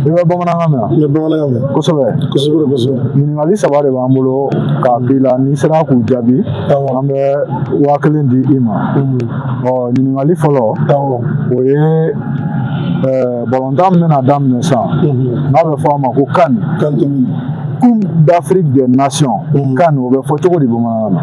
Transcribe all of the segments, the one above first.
i bɛ bamanankan mɛn n bɛ bamanankan mɛn kosɛbɛ kosɛbɛ kosɛbɛ ɲininkali saba de b'an bolo k'a k'i la n'i sera k'u jaabi an bɛ waa kelen di i ma ɔ ɲininkali fɔlɔ o ye balontan min bɛna daminɛ sisan n'a bɛ fɔ a ma ko can coupe d'afrique des nations can o bɛ fɔ cogo di bamanankan na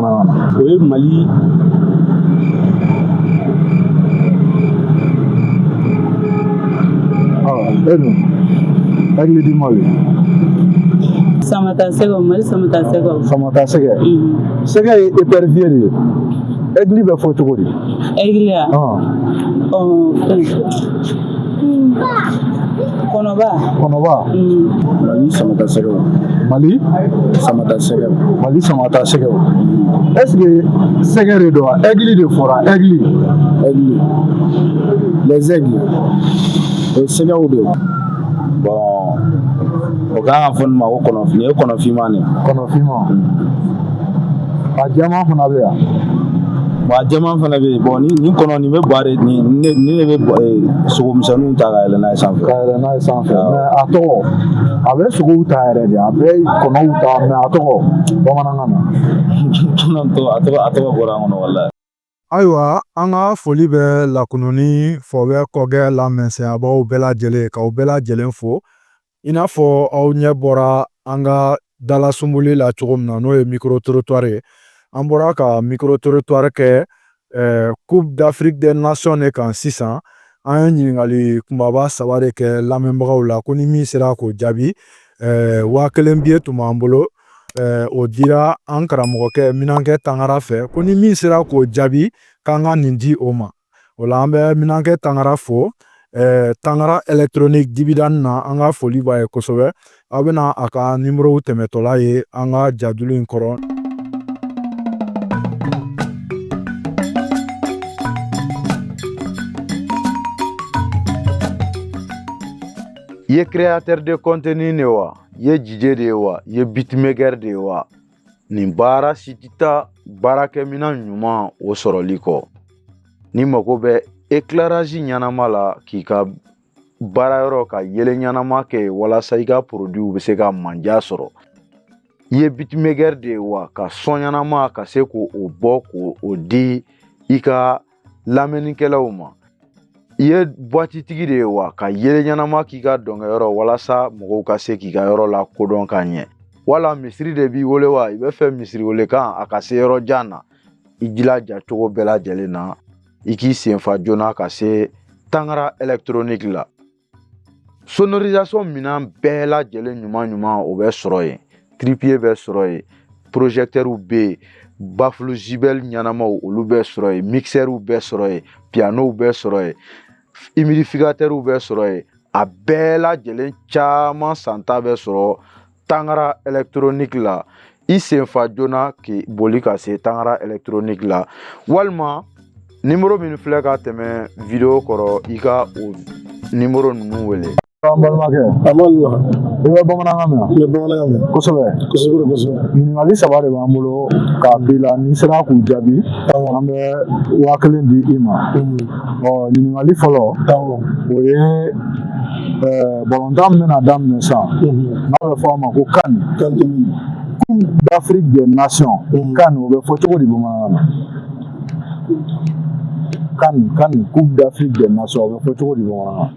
o ye mali aigle du mali samata sɛgɛ mali samata sɛgɛ samata sɛgɛ sɛgɛ ye épervier de ye aigle bɛ fɔ cogo di aigle ya kɔnɔba kɔnɔba mali samata sɛgɛw mali samata sɛgɛw mali samata sɛgɛw est ce que sɛgɛ de don wa aigle de fɔra aigle aigle les aigles o sɛgɛw de bon o kan ka fɔ nin ma ko kɔnɔfin nin ye kɔnɔfinman de kɔnɔfinman a jɛman fana bɛ yan bon a jɛman fana bɛ yen bon ni nin kɔnɔ nin bɛ bari nin ne ni ne bɛ eh, sogo misɛnninw ta ka yɛlɛ n'a ye sanfɛ ka yɛlɛ n'a ye sanfɛ mais a tɔgɔ a bɛ sogow ta yɛrɛ de a bɛ kɔnɔw ta mais a tɔgɔ bamanankan na a tɔgɔ a tɔgɔ a tɔgɔ bɔra an kɔnɔ walayi Ayiwa an ka foli bɛ lakununi fɔ bɛ kɔkɛ la mɛsɛnyabaw bɛɛ lajɛlen k'aw bɛɛ lajɛlen fo i n'a fɔ aw ɲɛ bɔra an ka dalasunboli la cogo min na n'o ye micro trottoir ye an bɔra ka micro trottoir kɛ eh, coupe d'afrique des nations de kan sisan an ye ɲininkali kunbaba saba de kɛ lamɛnbagaw la ko ni min sera k'o jaabi eh, waa kelen biye tun b'an bolo o dira an karamɔgɔkɛ minankɛ tangara fɛ ko ni min sera k'o jaabi k'an ka nin di o ma o la an bɛ minankɛ tangara fo tangara électronique dibida na an ka foli b'a ye kosɛbɛ aw bɛna a ka nimorow tɛmɛtɔla ye an ka jadulu in kɔrɔ i ye créateur de contenu ne wa ye dj de ye wa i ye beatmaker de ye wa nin baara si tɛ taa baarakɛminɛn ɲuman o sɔrɔli kɔ n'i mago bɛ éclairage ɲɛnama la k'i ka baara yɔrɔ ka yeelen ɲɛnama kɛ walasa i ka produitw bɛ se ka manja sɔrɔ i ye beatmaker de ye wa ka son ɲɛnama ka se k'o bɔ k'o di i ka lamɛnnikɛlaw ma i ye boîte tigi de ye wa ka yeelen ɲɛnama k'i ka dɔnkɛyɔrɔ walasa mɔgɔw ka se k'i ka yɔrɔ lakodɔn ka ɲɛ wala misiri de b'i bolo wa i bɛ fɛ misiri welekan a ka se yɔrɔ jan na i jilaja cogo bɛɛ lajɛlen na i k'i sen fa joona ka se tangara électronique la sonorisation minɛn bɛɛ lajɛlen ɲuman ɲuman o bɛ sɔrɔ yen trépied bɛ sɔrɔ yen projecteurs bɛ yen bafulu zibɛli ɲɛnamaw olu bɛ sɔrɔ yen mixɛriw bɛ sɔrɔ yen pianow bɛ sɔrɔ yen humidificateurs bɛ sɔrɔ yen a bɛɛ lajɛlen caman santa bɛ sɔrɔ tangara électronique la i senfa joona k'i boli ka se tangara électronique la walima nimoro minw filɛ ka tɛmɛ video kɔrɔ i ka o nimoro ninnu wele an balimakɛ a ma lila i bɛ bamanankan mɛn n bɛ bamanankan mɛn kosɛbɛ kosɛbɛ kosɛbɛ ɲininkali saba de b'an bolo k'a k'i la n'i sera k'u jaabi an bɛ waa kelen di i ma ɔ ɲininkali fɔlɔ o ye balontan min bɛna daminɛ sisan n'a bɛ fɔ a ma ko CAN coupe d'afrique des nations CAN o bɛ fɔ cogo di bamanankan na CAN CAN coupe d'afrique des nations o bɛ fɔ cogo di bamanankan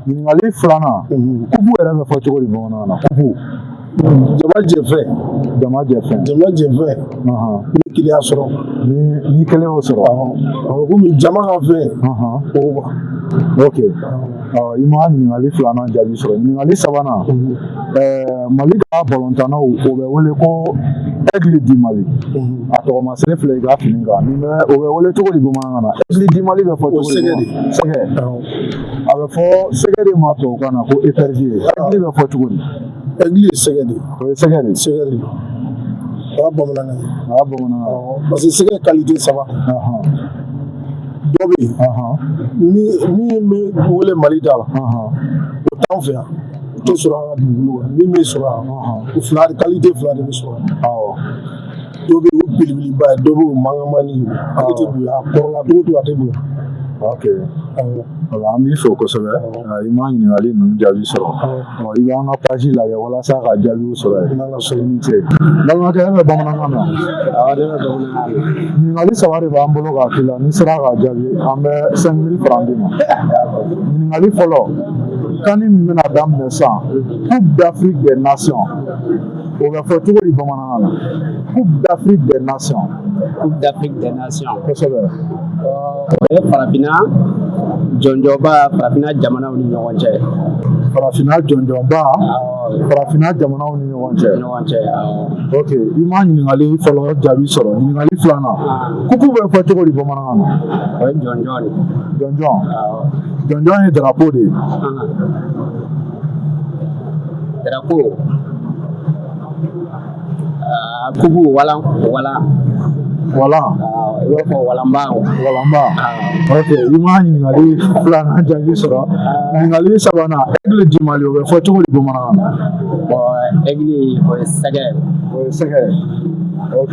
ɲininkali filanan kupu yɛrɛ bɛ fɔ cogo di bamanankan na kupu jama jɛfɛn jama jɛfɛn jama jɛfɛn ni kelen y'a sɔrɔ ni kelen y'o sɔrɔ komi jama ka fɛn o ok i ma ɲininkali filanan jaabi sɔrɔ ɲininkali sabanan mali ka balontannaw o bɛ wele ko aigle du mali a tɔgɔmaseere filɛ i ka fini kan ni bɛ o bɛ wele cogo di bamanankan na aigle du mali bɛ fɔ cogo di sɛgɛ a bɛ fɔ sɛgɛ de ma tubabukan na ko épervier aigle bɛ fɔ cogo di Aigle ye sɛgɛ de o ye sɛgɛ de sɛgɛ de o y'a bamanankan a bamanankan parce que sɛgɛ qualité saba dɔ bɛ yen min bɛ wele mali da la o t'an fɛ yan o tɛ sɔrɔ dugu min bɛ sɔrɔ yan fila qualité fila de bɛ sɔrɔ dɔ bɛ yen o belebeleba dɔ bɛ yen o mankanmani ale tɛ bonya a kɔrɔla cogo cogo a tɛ bonya ok voilà an b'i fo kosɛbɛ i ma ɲininkali ninnu jaabi sɔrɔ i b'an ka page lajɛ walasa ka jaabiw sɔrɔ yen n'an ka sɔrɔ i ni ce balimakɛ e bɛ bamanankan mɛn wa ɲininkali saba de b'an bolo k'a k'i la n'i sera k'a jaabi an bɛ cinq mille francs d'i ma ɲininkali fɔlɔ CAN min bɛna daminɛ sisan coupe d'afrique des nations O bɛ fɔ cogo di bamanankan na coupe d'Afrique des nations coupe d'Afrique des nations kosɛbɛ o ye farafinna jɔnjɔnba farafinna jamanaw ni ɲɔgɔn cɛ farafinna jɔnjɔnba farafinna jamanaw ni ɲɔgɔn cɛ ɲɔgɔn cɛ ok i ma ɲininkali fɔlɔ jaabi sɔrɔ ɲininkali filanan coupe bɛ fɔ cogo di bamanankan na o ye jɔnjɔn de jɔnjɔn jɔnjɔn ye drapeau de ye Darapo aa kupu walan walan wala i b'a fɔ walanba walanba ok i ma ɲininkali filanan jaabi sɔrɔ ɲininkali sabanan aigle du mali o bɛ fɔ cogo di bamanankan na ɔ aigle o ye sɛgɛ o ye sɛgɛ ok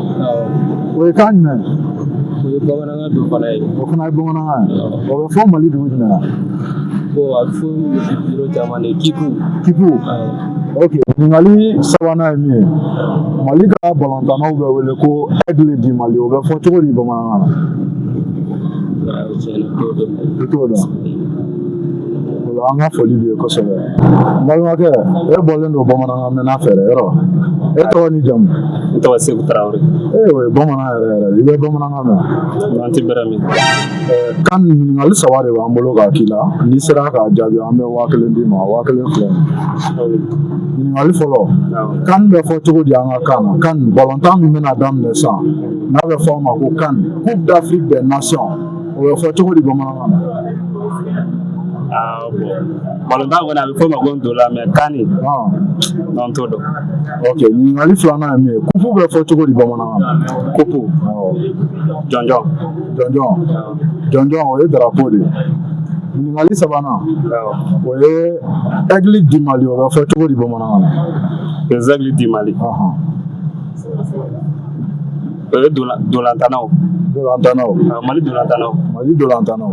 o ye kan jumɛn o ye bamanankan dɔ fana ye o fana ye bamanankan ye o bɛ fɔ mali dugu jumɛn na bon a bɛ fɔ yɔrɔ caman de kipu kipu ok ɲininkali sabanan ye min ye mali ka balontannaw bɛ wele ko aigle du mali o bɛ fɔ cogo di bamanankan na i t'o dɔn Ola an ka foli b'i ye kosɛbɛ n balimakɛ e bɔlen don bamanankan mɛnna fɛ dɛ yɔrɔ e tɔgɔ ni jamu n tɔgɔ Seku Tarawele ee o ye bamanan yɛrɛ yɛrɛ de ye i bɛ bamanankan mɛn wa n tɛ bɛrɛ mɛn kan ɲininkali saba de b'an bolo k'a k'i la n'i sera k'a jaabi an bɛ waa kelen d'i ma waa kelen filɛ nin ɲininkali fɔlɔ kan bɛ fɔ cogo di an ka kan na kan balontan min bɛna daminɛ sisan n'a bɛ fɔ a ma ko kan coupe d'afrique des nations o bɛ fɔ cogo di bamanankan na ah, balontan kɔni a bɛ fɔ o ma ko ntola mais kan de ah. non n t'o dɔn ok ɲininkali filanan ye min ye kupu bɛ fɔ cogo di bamanankan na kupu jɔnjɔn jɔnjɔn jɔnjɔn o ye darapo de ye ɲininkali sabanan o ye aigle du mali o bɛ fɔ cogo di bamanankan na les aigles du mali O ye ntolantannaw ntolantannaw Mali ntolantannaw Mali ntolantannaw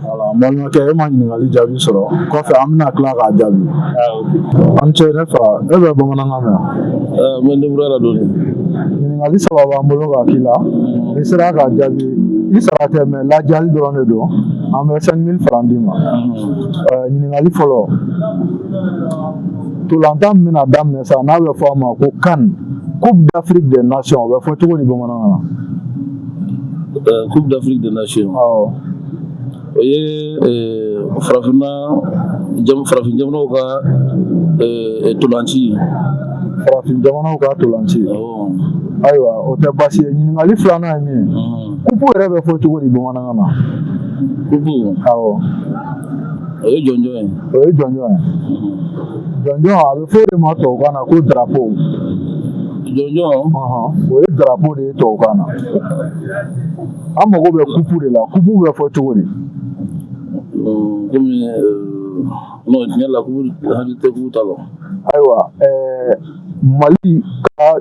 voilà n balimakɛ e ma ɲininkali jaabi sɔrɔ kɔfɛ an bɛna tila k'a jaabi i ni ce ne fa e bɛ bamanankan mɛn wa n bɛ débrouiller la dɔɔni ɲininkali saba b'an bolo k'a k'i la n'i sera k'a jaabi i sara tɛ mais ladiyali dɔrɔn de don an bɛ 5000 francs d'i ma ɲininkali fɔlɔ Ntolatan min bɛna daminɛ sa n'a bɛ fɔ a ma ko kan coupe d'afrique des nations o bɛ fɔ cogo di bamanankan na coupe d'afrique des nations awɔ o ye farafin farafin jamanaw ka ntolanci ye farafin jamanaw ka ntolanci ayiwa o tɛ baasi ye ɲininkali filanan ye min ye kupu yɛrɛ bɛ fɔ cogo di bamanankan na kupu awɔ o ye jɔnjɔn ye o ye jɔnjɔn ye jɔnjɔn a bɛ fɔ o de ma tubabukan na ko darapo jɔnjɔn o ye darapo de ye tubabukan na an mago bɛ kupu de la kupu bɛ fɔ cogo di komi non tiɲɛ la kupu n hakili tɛ kupu ta la ayiwa ɛɛ mali ka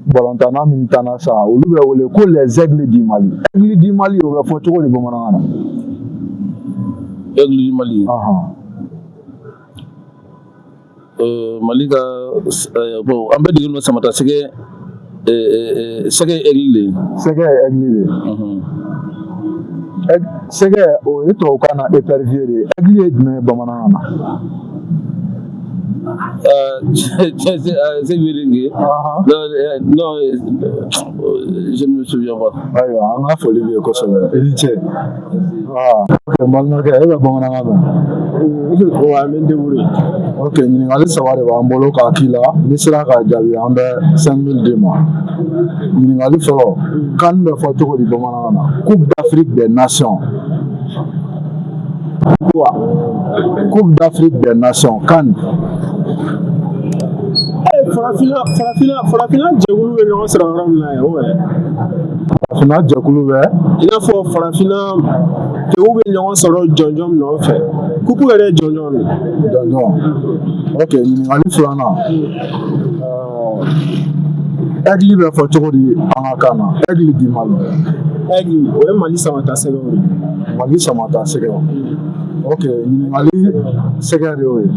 balontanna min tanna sa olu bɛ wele ko les aigles du mali aigle du mali o bɛ fɔ cogo di bamanankan na aigle du mali euh, mali ka euh, bon an bɛ degeli dɔ samata sɛgɛ euh, sɛgɛ aigle de sɛgɛ ye aigle de ye sɛgɛ o ye tubabukan na épervier de ye aigle ye jumɛn ye bamanankan na Euh, c'est vérifié non je ne me souviens pas ayiwa an ka foli b'i ye kosɛbɛ i ni ce awɔ ok n balimakɛ e bɛ bamanankan mɛn wa n bɛ n débrouiller ok ɲininkali saba de b'an bolo k'a k'i la n'i sera k'a jaabi an bɛ cinq mille d'i ma ɲininkali fɔlɔ CAN bɛ fɔ cogo di bamanankan na coupe d'afrique des nations Coupe d'Afrique des Nations CAN farafina farafina farafina jɛkulu bɛ ɲɔgɔn sɔrɔ yɔrɔ min na yan o yɛrɛ farafina jɛkulu bɛ i n'a fɔ farafina kɛw bɛ ɲɔgɔn sɔrɔ jɔnjɔn min nɔfɛ kupu yɛrɛ ye jɔnjɔn de jɔnjɔn ok ɲininkali filanan Aigle bɛ fɔ cogo di an ka kan na aigle du mali o ye mali samata sɛgɛ mali samata sɛgɛ ok ɲininkali sɛgɛ de y'o ye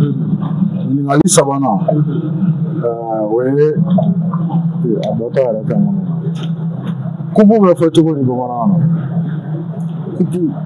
ɲininkali sabanan o ye a bɔ yɛrɛ kan kupu bɛ fɔ cogo di bamanankan na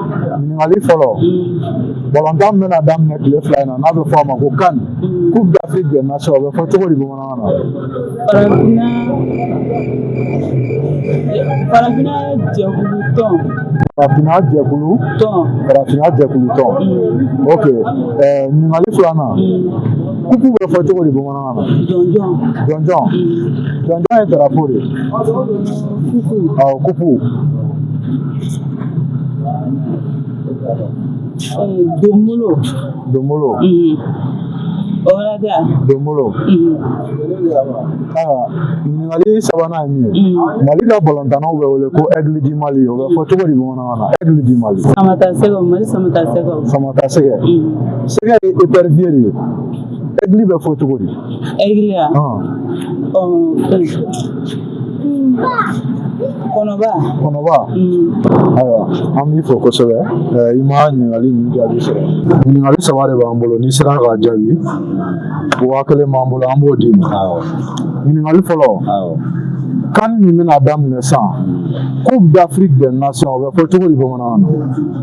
ɲininkali fɔlɔ balontan bɛna daminɛ tile fila in na n'a bɛ fɔ a ma ko CAN coupe d'afrique des nations o bɛ fɔ cogo di bamanankan na farafinna farafinna jɛkulu tɔn farafinna jɛkulu tɔn farafinna jɛkulu tɔn ok ɲininkali filanan kupu bɛ fɔ cogo di bamanankan jɔnjɔn jɔnjɔn jɔnjɔn ye drapeau de ɔ kupu donbolo donbolo donbolo ɲininkali sabanan ye min ye mali ka balontannaw bɛ wele ko aigle du mali o bɛ fɔ cogo di bamanankan na aigle du mali samata sɛgɛ mali samata sɛgɛ samata sɛgɛ sɛgɛ ye épervier de ye aigle bɛ fɔ cogo di aigle ye kɔnɔba kɔnɔba ayiwa an b'i fo kosɛbɛ i ma ɲininkali ninnu jaabi sɔrɔ ɲininkali saba de b'an bolo n'i sera k'a jaabi waa kelen b'an bolo an b'o d'i ma ɲininkali fɔlɔ CAN min bɛna daminɛ sisan coupe d'afrique des nations o bɛ fɔ cogo di bamanankan na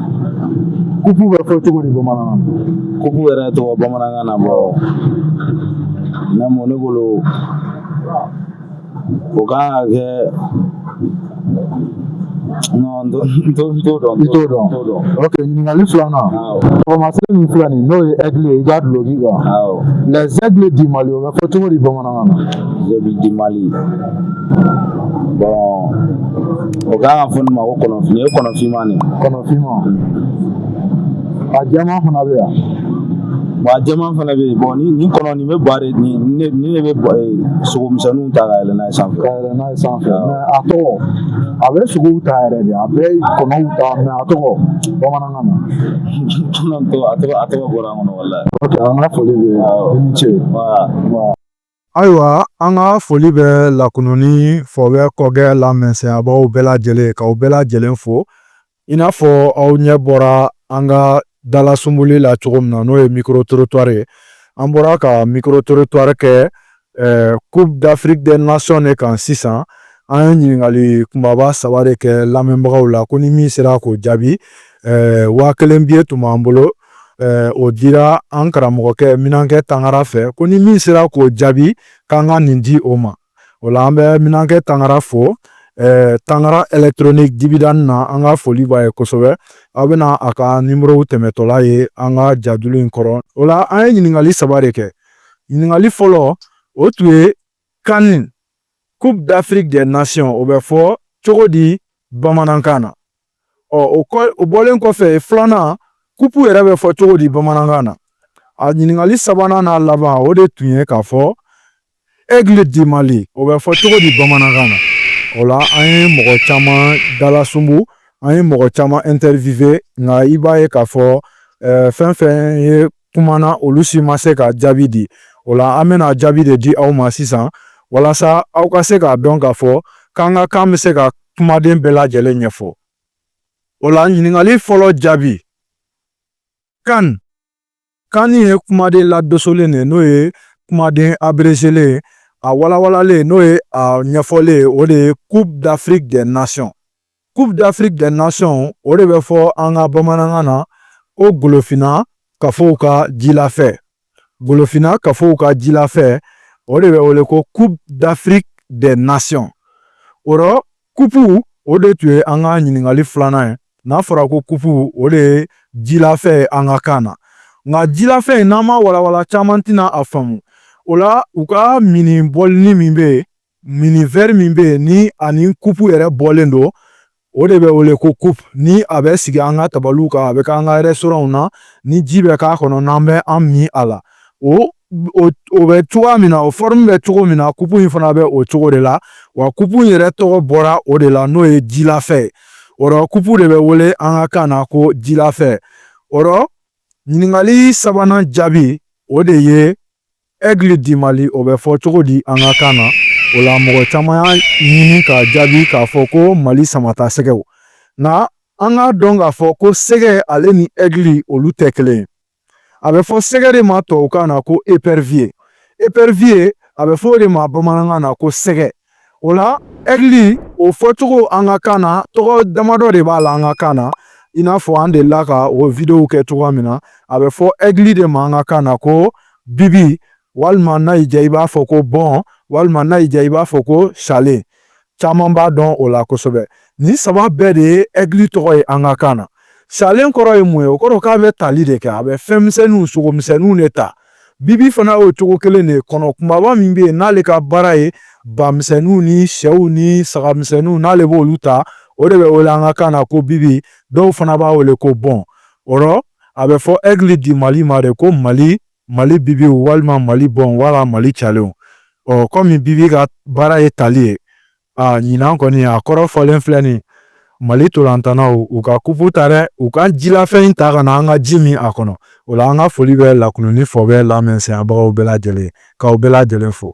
kupu bɛ fɔ cogo di bamanankan na kupu yɛrɛ tɔgɔ bamanankan na bon ne mɔ ne bolo o kan ka kɛ non n t'o dɔn i t'o dɔn ok ɲininkali filanan taamasiyɛn min filɛ nin n'o ye aigle ye i ka duloki kan les aigles du mali o bɛ fɔ cogo di bamanankan na aigle du mali bon O ka kan ka fɔ nin ma ko kɔnɔfin ye kɔnɔ finman de kɔnɔ finman a jɛman fana bɛ yan bon a jɛman fana bɛ yen bon ni ni kɔnɔ nin bɛ bari ni ni ne bɛ sogomisɛnninw ta ka yɛlɛ n'a ye sanfɛ ka yɛlɛ n'a ye sanfɛ mais a tɔgɔ a bɛ sogow ta yɛrɛ de a bɛ kɔnɔw ta mais a tɔgɔ bamanankan na a tɔgɔ a tɔgɔ bɔra an kɔnɔ wala an ka foli bɛ i ni ce Ayiwa an ka foli bɛ lakununni fɔbɛ kɔgɛ lamɛnbagaw bɛɛ lajɛlen k'aw bɛɛ lajɛlen fo i n'a fɔ aw ɲɛ bɔra an ka dalasunboli la cogo min na n'o ye micro-trottoir ye an bɔra ka micro-trottoir kɛ Coupe d'Afrique des Nations de kan sisan an ye ɲininkali kunbaba saba de kɛ lamɛnbagaw la ko ni min sera k'o jaabi waa kelen billet tun b'an bolo eh, o dira an karamɔgɔkɛ minankɛ tangara fɛ ko ni min sera k'o jaabi k'an ka nin di o ma o la an bɛ minankɛ tangara fo eh, tangara électronique dibidan na an ka foli b'a ye kosɛbɛ aw bɛna a ka nimorow tɛmɛtɔla ye an ka jadulu in kɔrɔ o la an ye ɲininkali saba de kɛ ɲininkali fɔlɔ o tun ye CAN, Coupe d'Afrique des Nations, o bɛ fɔ cogo di bamanankan na? Ɔ o kɔ o bɔlen kɔfɛ filanan kupu yɛrɛ bɛ fɔ cogo di bamanankan na? A ɲininkali sabanan n'a laban o de tun ye k'a fɔ aigle du Mali o bɛ fɔ cogo di bamanankan na? O la an ye mɔgɔ caman dalasunbu an ye mɔgɔ caman interviewer nka i b'a ye k'a fɔ fɛn fɛn ye kumana olu si ma se ka jaabi di. O la, an bɛna jaabi de di aw ma sisan walasa aw ka se k'a dɔn k'a fɔ k'an ka kan bɛ se ka kumaden bɛɛ lajɛlen ɲɛfɔ. O la, ɲininkali fɔlɔ jaabi CAN CAN ye kumaden ladosolen de n'o ye kumaden abrezelen a walawalalen n'o ye a ɲɛfɔlen o de ye Coupe d'Afrique des Nations. coupe d'afrique des nations o de bɛ fɔ an ka bamanankan na ko golofina kafow ka jilafɛ golofina kafow ka jilafɛ o de bɛ wele ko coupe d'afrique des nations o rɔ kupu o de tun ye an ka ɲininkali filanan ye n'a fɔra ko kupu o de ye jilafɛ ye an ka kan na nka jilafɛ in n'an m'a walawala caman tɛna a faamu o la u ka minni bɔlinin min bɛ yen mini vɛri min bɛ yen n'a ni kupu yɛrɛ bɔlen don o de bɛ wele ko kupu ni a bɛ sigi an ka tabaliw kan a bɛ k'an ka rɛsitoranw na ni ji bɛ k'a kɔnɔ n'an bɛ an min a la o o bɛ cogoya min na o fɔrɔmu bɛ cogo min na kupu in fana bɛ o cogo de la wa kupu in yɛrɛ tɔgɔ bɔra o de la n'o ye jilafɛ ye o rɔ kupu de bɛ wele an ka kan na ko jilafɛ o rɔ ɲininkali sabanan jaabi o de ye Egli di mali o bɛ fɔ cogo di an ka kan na o la mɔgɔ caman y'a ɲini k'a jaabi k'a fɔ ko mali samatasɛgɛw nka an k'a dɔn k'a fɔ ko sɛgɛ ale ni egli olu tɛ kelen ye a bɛ fɔ sɛgɛ de ma tubabukan na ko eperviye eperviye a bɛ fɔ o de ma bamanankan na ko sɛgɛ o la ɛgili o fɔcogo an ka kan na tɔgɔ damadɔ de b'a la an ka kan na i n'a fɔ an delila ka o videow kɛ cogoya min na a bɛ fɔ ɛgili de ma an ka kan na ko bibi walima n'a y'i diya i b'a fɔ ko bɔn walima n'a y'i diya i b'a fɔ ko calen caman b'a dɔn o la kosɛbɛ nin saba bɛɛ de ye ɛgili tɔgɔ ye an ka kan na calen kɔrɔ ye mun ye o kɔrɔ k'a bɛ tali de kɛ a bɛ fɛnmisɛnninw sogomisɛnninw de ta Bibi fana y'o cogo kelen de ye kɔnɔ kumaba min bɛ yen n'ale ka baara ye bamisɛnninw ni sɛw ni sagamisɛnninw n'ale b'olu ta o de bɛ wele an ka kan na ko bibi dɔw fana b'a wele ko bɔn o rɔ a bɛ fɔ egili di mali ma de ko mali bibiw walima mali bɔn wala mali calenw ɔ kɔmi bibi ka baara ye tali ye aa ɲinan kɔni a kɔrɔ fɔlen filɛ nin mali ntolatannaw u ka kupu ta dɛ u ka jilafɛn in ta ka na an ka ji min a kɔnɔ o la an ka foli bɛ lakununi fɔ bɛɛ lamɛnsɛnyabagaw bɛɛ lajɛlen k'aw bɛɛ lajɛlen fo